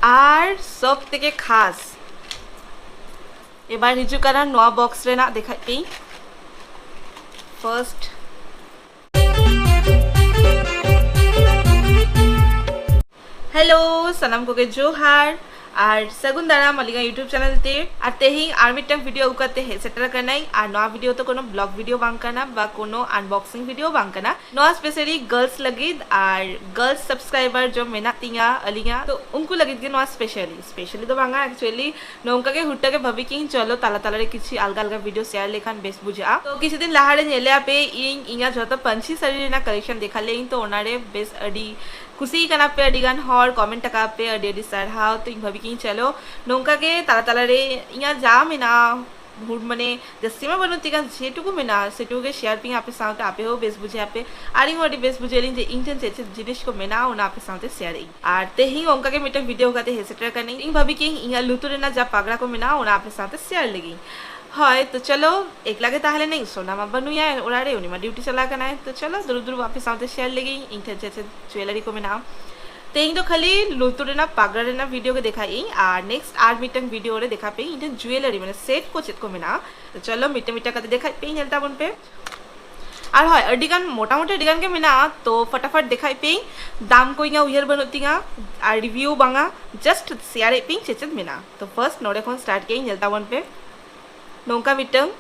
ᱟᱨ ᱥᱚᱵ ᱛᱮᱜᱮ ᱠᱷᱟᱥ ᱮᱵᱟᱨ ᱦᱤᱡᱩᱜ ᱠᱟᱱᱟ ᱱᱚᱣᱟ ᱵᱚᱠᱥ ᱨᱮᱱᱟᱜ ᱫᱮᱠᱷᱟᱡ ᱯᱮᱭᱤᱧ ᱯᱷᱟᱨᱥᱴ ᱦᱮᱞᱳ ᱥᱟᱱᱟᱢ ᱠᱚᱜᱮ ᱡᱳᱦᱟᱨ ᱟᱨ ᱥᱟᱹᱜᱩᱱ ᱫᱟᱨᱟᱢ ᱟᱹᱞᱤᱧᱟᱜ ᱤᱭᱩᱴᱩᱵᱽ ᱪᱮᱱᱮᱞ ᱛᱮ ᱟᱨ ᱛᱮᱦᱮᱧ ᱟᱨ ᱢᱤᱫᱴᱟᱝ ᱵᱷᱤᱰᱤᱭᱳ ᱟᱹᱜᱩ ᱠᱟᱛᱮ ᱦᱮᱡ ᱥᱮᱴᱮᱨ ᱟᱠᱟᱱᱟᱹᱧ ᱟᱨ ᱱᱚᱣᱟ ᱵᱷᱤᱰᱤᱭᱳ ᱫᱚ ᱠᱳᱱᱳ ᱵᱞᱚᱜ ᱵᱷᱤᱰᱤᱭᱳ ᱵᱟᱝ ᱠᱟᱱᱟ ᱵᱟ ᱠᱳᱱᱳ ᱟᱱᱵᱚᱠᱥᱤᱝ ᱵᱷᱤᱰᱤᱭᱳ ᱵᱟᱝ ᱠᱟᱱᱟ ᱱᱚᱣᱟ ᱥᱯᱮᱥᱟᱞᱤ ᱜᱟᱨᱞᱥ ᱞᱟᱹᱜᱤᱫ ᱟᱨ ᱜᱟᱨᱞᱥ ᱥᱟᱵᱥᱠᱨᱟᱭᱵᱟᱨ ᱡᱚ ᱢᱮᱱᱟᱜ ᱛᱤᱧᱟ ᱟᱹᱞᱤᱧᱟᱜ ᱛᱚ ᱩᱱᱠᱩ ᱞᱟᱹᱜᱤᱫ ᱜᱮ ᱱᱚᱣᱟ ᱥᱯᱮᱥᱟᱞᱤ ᱥᱯᱮᱥᱟᱞᱤ ᱫᱚ ᱵᱟᱝᱟ ᱮᱠᱪᱩᱭᱮᱞᱤ ᱱᱚᱝᱠᱟ ᱜᱮ ᱦᱩᱴ ᱜᱮ ᱵᱷᱟᱹᱵᱤ ᱠᱮᱜ ᱤᱧ ᱪᱚᱞᱚ ᱛᱟᱞᱟ ᱛᱟᱞᱟ ᱨᱮ ᱠᱤᱪᱷᱤ ᱟᱞᱜᱟ ᱟᱞᱜᱟ ᱵᱷᱤᱰᱤᱭᱳ ᱥᱮᱭᱟᱨ ᱞᱮᱠᱷᱟᱱ ᱵᱮᱥ ᱵᱩᱡᱷᱟᱹᱜᱼᱟ ᱛᱚ ᱠᱤᱪᱷᱩ ᱫᱤᱱ ᱞᱟᱦᱟ ᱨᱮ ᱧᱮᱞᱮ ᱟᱯᱮ ᱤᱧ ᱤᱧᱟᱜ ᱡᱚᱛᱚ ᱯᱟᱹᱧᱪᱤ ᱥᱟᱹᱲᱤ ᱨᱮᱱᱟᱜ ᱠᱟᱞᱮᱠᱥᱚᱱ ᱫᱮᱠᱷᱟ ᱞᱮᱜ ᱤᱧ ᱛᱚ ᱚᱱᱟ ᱨᱮ ᱵᱮᱥ ᱟᱹᱰᱤ ᱠᱩᱥᱤ ᱟᱠᱟᱱᱟ ᱯᱮ ᱟᱹᱰᱤ ᱜᱟᱱ ᱦᱚᱲ ᱠᱚᱢᱮᱱᱴ ᱟᱠᱟᱫ ᱯᱮ ᱟᱹᱰᱤ ᱟᱹᱰᱤ ᱥᱟᱨᱦᱟᱣ ᱛᱚ ᱤᱧ ᱵᱷᱟᱹᱵᱤ ᱠᱮᱜ ᱤᱧ ᱪᱚᱞᱚ ᱱᱚᱝᱠᱟ ᱜᱮ ᱛᱟᱞᱟ ᱛᱟᱞᱟ ᱨᱮ ᱤᱧᱟᱜ ᱡᱟ ᱢᱮᱱᱟᱜᱼᱟ ᱵᱷᱩᱞ ᱢᱟᱱᱮ ᱡᱟᱹᱥᱛᱤ ᱢᱟ ᱵᱟᱹᱱᱩᱜ ᱛᱤᱧ ᱡᱮᱴᱩᱠᱩ ᱢᱮᱱᱟᱜᱼᱟ ᱥᱮᱴᱩᱠᱩ ᱜᱮ ᱥᱮᱭᱟᱨ ᱯᱤᱧ ᱟᱯᱮ ᱥᱟᱶᱛᱮ ᱟᱯᱮ ᱦᱚᱸ ᱵᱮᱥ ᱵᱩᱡᱷᱟᱹᱜ ᱟᱯᱮ ᱟᱨ ᱤᱧ ᱦᱚᱸ ᱟᱹᱰᱤ ᱵᱮᱥ ᱵᱩᱡᱷᱟᱹᱜ ᱟᱹᱞᱤᱧ ᱡᱮ ᱤᱧ ᱴᱷᱮᱱ ᱪᱮᱫ ᱪᱮᱫ ᱡᱤᱱᱤᱥ ᱠᱚ ᱢᱮᱱᱟᱜᱼᱟ ᱚᱱᱟ ᱟᱯᱮ ᱥᱟᱶᱛᱮ ᱥᱮᱭᱟᱨ ᱮᱫ ᱤᱧ ᱟᱨ ᱛᱮᱦᱮᱧ ᱦᱚᱸ ᱚᱱᱠᱟ ᱜᱮ ᱢᱤᱫᱴᱟᱝ ᱵᱷᱤᱰᱤᱭᱳ ᱠᱟᱛᱮ ᱦᱮᱡ ᱥᱮᱴᱮᱨ ᱟᱠᱟᱱᱟᱹᱧ ᱤᱧ ᱵᱷᱟᱹᱵᱤ ᱠᱮᱫᱟᱹᱧ ᱤᱧᱟᱹᱜ ᱞᱩᱛᱩᱨ ᱨᱮᱱᱟᱜ ᱡᱟ ᱯᱟᱜᱽᱨᱟ ᱠᱚ ᱢᱮᱱᱟᱜᱼᱟ ᱚᱱᱟ ᱟᱯᱮ ᱥᱟᱶᱛᱮ ᱥᱮᱭᱟᱨ ᱞᱟᱹᱜᱤᱫ ᱦᱳᱭ ᱛᱚ ᱪᱚᱞᱚ ᱮᱠᱞᱟ ᱜᱮ ᱛᱟᱦᱮᱸ ᱞᱮᱱᱟᱹᱧ ᱥᱳᱱᱟ ᱢᱟ ᱵᱟᱹᱱᱩᱭᱟ ᱚᱲᱟᱜ ᱨᱮ ᱩᱱᱤ ᱢᱟ ᱰᱤᱭᱩᱴᱤ ᱪᱟᱞᱟᱣ ᱟᱠᱟᱱᱟᱭ ᱛᱚ ᱪᱚᱞᱚ ᱫᱩᱲᱩᱵ ᱫᱩᱲᱩᱵ ᱟᱯᱮ ᱥᱟᱶᱛᱮ ᱥᱮᱭᱟᱨ ᱞᱟᱹᱜᱤᱫ ᱤᱧ ᱴᱷᱮᱱ ᱪᱮᱫ ᱪᱮᱫ ᱡᱩᱭᱮᱞᱟᱨᱤ ᱠᱚ ᱢᱮᱱᱟᱜᱼᱟ ᱛᱮᱦᱮᱧ ᱫᱚ ᱠᱷᱟᱹᱞᱤ ᱞᱩᱛᱩᱨ ᱨᱮᱱᱟᱜ ᱯᱟᱜᱽᱨᱟ ᱨᱮᱱᱟᱜ ᱵᱷᱤᱰᱤᱭᱳ ᱜᱮ ᱫᱮᱠᱷᱟᱭᱮᱫ ᱤᱧ ᱟᱨ ᱱᱮᱠᱥᱴ ᱟᱨ ᱢᱤᱫᱴᱟᱝ ᱵᱷᱤᱰᱤᱭᱳ ᱨᱮ ᱫᱮᱠᱷᱟ ᱯᱮ ᱤᱧ ᱴᱷᱮᱱ ᱡᱩᱭᱮᱞᱟᱨᱤ ᱢᱟᱱᱮ ᱥᱮᱴ ᱠᱚ ᱪᱮᱫ ᱠᱚ ᱢᱮᱱᱟᱜᱼᱟ ᱪᱚᱞᱚ ᱢᱤᱫᱴᱟᱝ ᱢᱤᱫᱴᱟᱝ ᱠᱟᱛᱮ ᱫᱮᱠᱷᱟᱭᱮᱫ ᱯᱮ ᱧᱮᱞ ᱛᱟᱵᱚᱱ ᱯᱮ ᱟᱨ ᱦᱳᱭ ᱟᱹᱰᱤ ᱜᱟᱱ ᱢᱚᱴᱟᱢᱩᱴᱤ ᱟᱹᱰᱤ ᱜᱟᱱ ᱜᱮ ᱢᱮᱱᱟᱜᱼᱟ ᱛᱚ ᱯᱷᱟᱴᱟᱯᱷᱟᱴ ᱫᱮᱠᱷᱟᱭᱮᱫ ᱯᱮ ᱫᱟᱢ ᱠᱚ ᱤᱧᱟᱹᱜ ᱩᱭᱦᱟᱹᱨ ᱵᱟᱹᱱᱩᱜ ᱛᱤᱧᱟ ᱟᱨ ᱨᱤᱵᱷᱤᱭᱩ ᱵᱟᱝᱟ ᱡᱟᱥᱴ ᱥᱮᱭᱟᱨᱮᱫ ᱯᱮ ᱪᱮᱫ ᱪᱮᱫ ᱢᱮᱱᱟᱜᱼᱟ ᱛᱚ ᱯᱷᱟᱨᱥᱴ ᱱᱚᱰᱮ ᱠᱷᱚᱱ ᱥᱴᱟᱨᱴ ᱠᱮᱫ ᱤᱧ ᱧᱮᱞ ᱛᱟᱵᱚᱱ ᱯᱮ ᱱᱚᱝᱠᱟ ᱢᱤᱫᱴᱟᱝ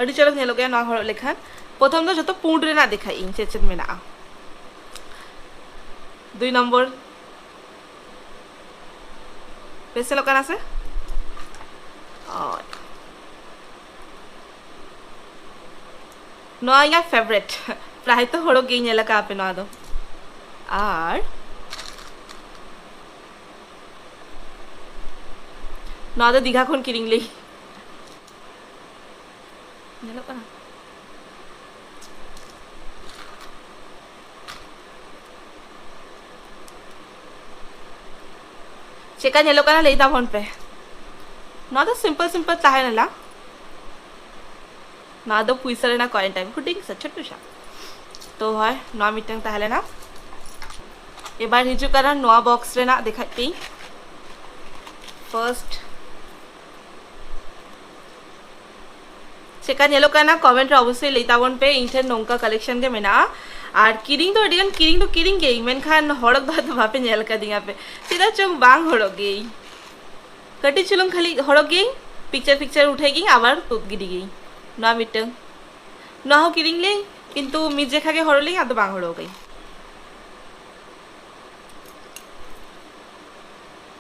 ᱟᱹᱰᱤ ᱪᱚᱨᱚᱠ ᱧᱮᱞᱚᱜ ᱜᱮᱭᱟ ᱱᱚᱣᱟ ᱦᱚᱨᱚᱜ ᱞᱮᱠᱷᱟᱱ ᱯᱨᱚᱛᱷᱚᱢ ᱫᱚ ᱡᱚᱛᱚ ᱯᱩᱸᱰ ᱨᱮᱱᱟᱜ ᱫᱮᱠᱷᱟᱭ ᱤᱧ ᱪᱮᱫ ᱪᱮᱫ ᱢᱮᱱᱟᱜᱼᱟ ᱫᱩᱭ ᱱᱚᱢᱵᱚᱨ ᱵᱮᱥ ᱧᱮᱞᱚᱜ ᱠᱟᱱᱟ ᱥᱮ ᱱᱚᱣᱟ ᱤᱧᱟᱹᱜ ᱯᱷᱮᱵᱨᱮᱴ ᱯᱨᱟᱭ ᱛᱚ ᱦᱚᱲ ᱜᱮ ᱧᱮᱞ ᱟᱠᱟᱫ ᱟᱯᱮ ᱱᱚᱣᱟ ᱫᱚ ᱟᱨ ᱱᱚᱣᱟ ᱫᱚ ᱫᱤᱜᱷᱟ ᱠᱷᱚᱱ ᱠᱤᱨᱤᱧ ᱞᱮᱫ ᱧᱮᱞᱚᱜ ᱠᱟᱱᱟ ᱪᱮᱫᱠᱟ ᱧᱮᱞᱚᱜ ᱠᱟᱱᱟ ᱞᱟᱹᱭ ᱛᱟᱵᱚᱱ ᱯᱮ ᱱᱚᱣᱟ ᱫᱚ ᱥᱤᱢᱯᱚᱞ ᱥᱤᱢᱯᱚᱞ ᱛᱟᱦᱮᱸ ᱞᱮᱱᱟ ᱱᱚᱣᱟ ᱫᱚ ᱯᱩᱭᱥᱟᱹ ᱨᱮᱱᱟᱜ ᱠᱚᱭᱮᱱ ᱴᱟᱭᱤᱯ ᱦᱩᱰᱤᱧ ᱥᱮ ᱪᱷᱳᱴᱳ ᱥᱟ ᱛᱚ ᱦᱳᱭ ᱱᱚᱣᱟ ᱢᱤᱫᱴᱟᱝ ᱛᱟᱦᱮᱸ ᱞᱮᱱᱟ ᱮᱵᱟᱨ ᱦᱤᱡᱩᱜ ᱠᱟᱱᱟ ᱱᱚᱣᱟ ᱵᱚᱠᱥ ᱨᱮᱱᱟᱜ ᱫᱮᱠᱷᱟᱡ ᱯᱮ ᱯᱷᱟᱨᱥᱴ ᱪᱮᱫᱠᱟ ᱧᱮᱞᱚᱜ ᱠᱟᱱᱟ ᱠᱚᱢᱮᱱᱴ ᱨᱮ ᱚᱵᱚᱥᱥᱳᱭ ᱞᱟᱹᱭ ᱛᱟᱵᱚᱱ ᱯᱮ ᱤᱧ ᱴᱷᱮᱱ ᱱᱚᱝᱠᱟ ᱠᱟᱞᱮᱠᱥᱚᱱ ᱜᱮ ᱢᱮᱱᱟᱜᱼᱟ ᱟᱨ ᱠᱤᱨᱤᱧ ᱫᱚ ᱟᱹᱰᱤᱜᱟᱱ ᱠᱤᱨᱤᱧ ᱫᱚ ᱠᱤᱨᱤᱧ ᱜᱮᱭᱟᱹᱧ ᱢᱮᱱᱠᱷᱟᱱ ᱦᱚᱲᱚᱜ ᱫᱚ ᱟᱫᱚ ᱵᱟᱯᱮ ᱧᱮᱞ ᱠᱟᱫᱤᱧᱟ ᱯᱮ ᱪᱮᱫᱟᱜ ᱪᱚᱝ ᱵᱟᱝ ᱦᱚᱲᱚᱜ ᱜᱮᱭᱟᱹᱧ ᱠᱟᱹᱴᱤᱡ ᱪᱩᱞᱩᱝ ᱠᱷᱟᱹᱞᱤ ᱦᱚᱲᱚᱜ ᱜᱮᱭᱟᱹᱧ ᱯᱤᱠᱪᱟᱨ ᱯᱤᱠᱪᱟᱨ ᱩᱴᱷᱟᱹᱭ ᱜᱤᱧ ᱟᱵᱟᱨ ᱛᱩᱫ ᱜᱤᱰᱤ ᱜᱤᱧ ᱱᱚᱣᱟ ᱢᱤᱫᱴᱟᱝ ᱱᱚᱣᱟ ᱦᱚᱸ ᱠᱤᱨᱤᱧ ᱞᱤᱧ ᱠᱤᱱᱛᱩ ᱢᱤᱫ ᱡᱮᱠᱷᱟ ᱜᱮ ᱦᱚᱲᱚᱜ ᱞᱤᱧ ᱟᱫᱚ ᱵᱟᱝ ᱦᱚᱲᱚᱜ ᱜᱤᱧ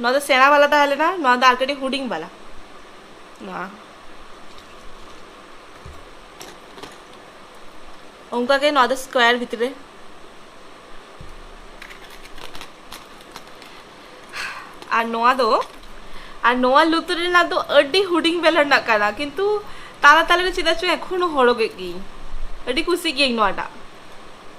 ᱱᱚᱣᱟ ᱫᱚ ᱥᱮᱬᱟ ᱵᱟᱞᱟ ᱛᱟᱦᱮᱸ ᱞᱮᱱᱟ ᱱᱚᱣᱟ ᱫᱚ ᱟᱨ ᱠᱟᱹᱴᱤᱡ ᱦᱩᱰᱤᱧ ᱵᱟᱞᱟ ᱱᱚᱣᱟ ᱚᱱᱠᱟ ᱜᱮ ᱱᱚᱣᱟ ᱫᱚ ᱥᱠᱚᱭᱟᱨ ᱵᱷᱤᱛᱨᱤ ᱨᱮ ᱟᱨ ᱱᱚᱣᱟ ᱫᱚ ᱟᱨ ᱱᱚᱣᱟ ᱞᱩᱛᱩᱨ ᱨᱮᱱᱟᱜ ᱫᱚ ᱟᱹᱰᱤ ᱦᱩᱰᱤᱧ ᱵᱮᱞᱟ ᱨᱮᱱᱟᱜ ᱠᱟᱱᱟ ᱠᱤᱱᱛᱩ ᱛᱟᱞᱟ ᱛᱟᱞᱟ ᱨᱮ ᱪᱮᱫᱟᱜ ᱪᱚ ᱮᱠᱷᱚᱱ ᱦᱚᱸ ᱦᱚᱨᱚᱜᱮᱫ ᱜᱤᱭᱟᱹᱧ ᱟᱹᱰᱤ ᱠᱩᱥᱤ ᱜᱤᱭᱟᱹᱧ ᱱᱚᱣᱟᱴᱟᱜ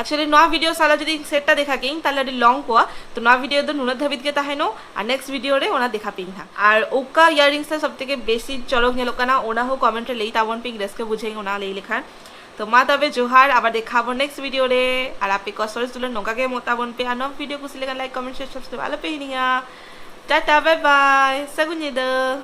ᱮᱠᱪᱩᱭᱮᱞᱤ ᱱᱚᱣᱟ ᱵᱷᱤᱰᱤᱭᱳ ᱥᱟᱞᱟ ᱡᱩᱫᱤ ᱥᱮᱴᱟ ᱫᱮᱠᱷᱟ ᱠᱮᱧ ᱛᱟᱦᱞᱮ ᱟᱹᱰᱤ ᱞᱚᱝ ᱠᱚᱣᱟ ᱛᱚ ᱱᱚᱣᱟ ᱵᱷᱤᱰᱤᱭᱳ ᱫᱚ ᱱᱩᱱᱟᱹᱜ ᱫᱷᱟᱹᱵᱤᱡ ᱜᱮ ᱛᱟᱦᱮᱱᱚ ᱟᱨ ᱱᱮᱠᱥᱴ ᱵᱷᱤᱰᱤᱭᱳ ᱨᱮ ᱚᱱᱟ ᱫᱮᱠᱷᱟ ᱯᱮᱧ ᱦᱟᱸᱜ ᱟᱨ ᱚᱠᱟ ᱤᱭᱟᱨᱤᱝᱥ ᱛᱮ ᱥᱚᱵ ᱛᱷᱮᱠᱮ ᱵᱮᱥᱤ ᱪᱚᱨᱚᱠ ᱧᱮᱞᱚᱜ ᱠᱟᱱᱟ ᱚᱱᱟ ᱦᱚᱸ ᱠᱚᱢᱮᱱᱴ ᱨᱮ ᱞᱟᱹᱭ ᱛᱟᱵᱚᱱ ᱯᱮᱧ ᱨᱟᱹᱥᱠᱟᱹ ᱵᱩᱡᱷᱟᱹᱣᱤᱧ ᱚᱱᱟ ᱞᱟᱹᱭ ᱞᱮᱠᱷᱟᱱ ᱛᱚ ᱢᱟ ᱛᱚᱵᱮ ᱡᱚᱦᱟᱨ ᱟᱵᱟᱨ ᱫᱮᱠᱷᱟ ᱟᱵᱚᱱ ᱱᱮᱠᱥᱴ ᱵᱷᱤᱰᱤᱭᱳ ᱨᱮ ᱟᱨ ᱟᱯᱮ ᱠᱚ ᱥᱚᱨᱮᱥ ᱫᱩᱞᱟᱹᱲ ᱱᱚᱝᱠᱟ ᱜᱮ ᱮᱢᱚᱜ ᱛᱟᱵᱚᱱ ᱯᱮ ᱟᱨ ᱱᱚᱣᱟ ᱵᱷᱤᱰᱤᱭᱳ ᱠᱩᱥᱤ ᱞᱮᱠᱷᱟᱱ ᱞᱟᱭᱤᱠ ᱠᱚᱢᱮᱱᱴ ᱥᱮᱭᱟᱨ ᱥᱟᱵᱥᱠᱨᱟᱭᱤᱵ ᱟᱞᱚᱯᱮ ᱦᱤᱲᱤᱧᱟ ᱴᱟᱴᱟ ᱵᱟᱭ ᱵᱟᱭ ᱥᱟᱹᱜᱩᱱ ᱧᱤᱫᱟᱹ